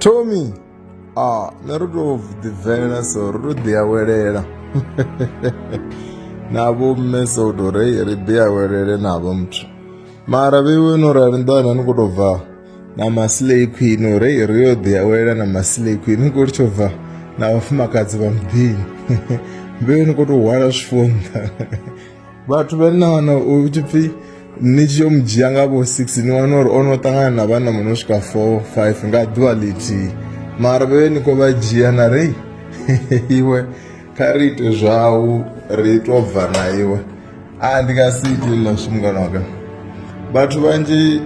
tommy a nṋe ro tou ḓibvela so ro tou ḓiawelela navho mme so u tou rei ri ḓiawelele navho muthu mara vheiwe no rali nḓana ni khou tou bva na masilei queen u rei ri yo ḓiawelela na masilei queen ni khou tsho bva na vhafumakadzi vha muḓini mbeu ni khou tou hwala zwifunḓa vhathu vha na wana u tshi pfhi ni tshi yo mu dzhia nga vho six ni wana uri o no ṱangana na vhana mu no swika four five nga ḓuvha ḽithihi mara vhe ni khou vha dzhia na rei iwe kha ri ite zwau ri to bva na iwe a ndi nga si ite ḽa zwi mungana waka vhathu vhanzhi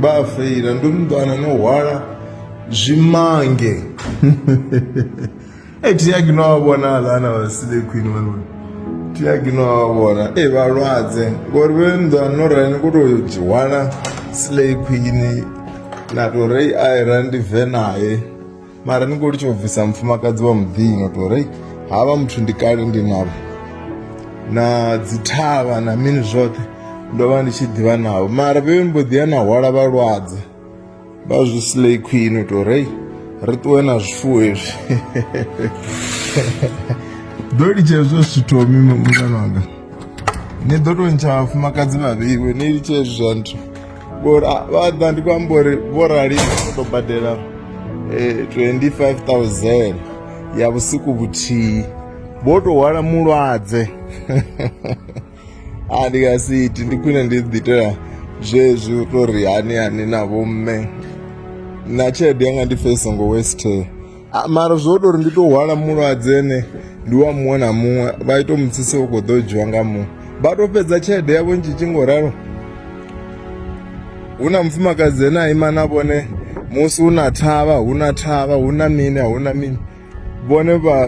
vha a feila ndo no ḓo wana no hwala zwimange Hey, Tiagi no wa vhona lana vha sile queen vhana. Tiagi no wa vhona. Eh vhalwadze ngori vhe nnḓa no rani ko to dzhiwana slay queen na to rei i ran ndi ve naye. Mara ni ko litsho bvisa mfumakadzi wa muḓini to rei havha muthu ndi kale ndi navho. Na dzithavha na mini zwoṱhe ndo vha ndi tshi ḓivha navho mara vhe mbo ḓi ya na hwala vhalwadze. vha zwi slay queen u tou rei ri ṱuwe na zwifuwo hezwi ḓo litsha hezwo zwithu mimi mungana wanga ni ḓo tou ntsha vhafumakadzi vhavhiwe ni litsha hezwi zwa nthu vha ḓa ndi khou amba uri vho rali o tou badela 25,000 eh, ya vhusiku vhuthihi vho tou hwala mulwadze a ndi nga si iti ndi khwine ndi ḓi itela zwezwi u to ri hani hani na vhomme na tshelede yanga ndi pfhe i songo weste mara zwo ita uri ndi to hwala mulwadze ene ndi wa muṅwe na muṅwe vha ito mutsise u khou ḓo dzhiwa nga muṅwe vha to fhedza tshelede yavho ntshi tshi ngo ralo hu na mufumakadzi ene a ima na vhone musi hu na thavha hu na thavha hu na mini a hu na mini vhone vha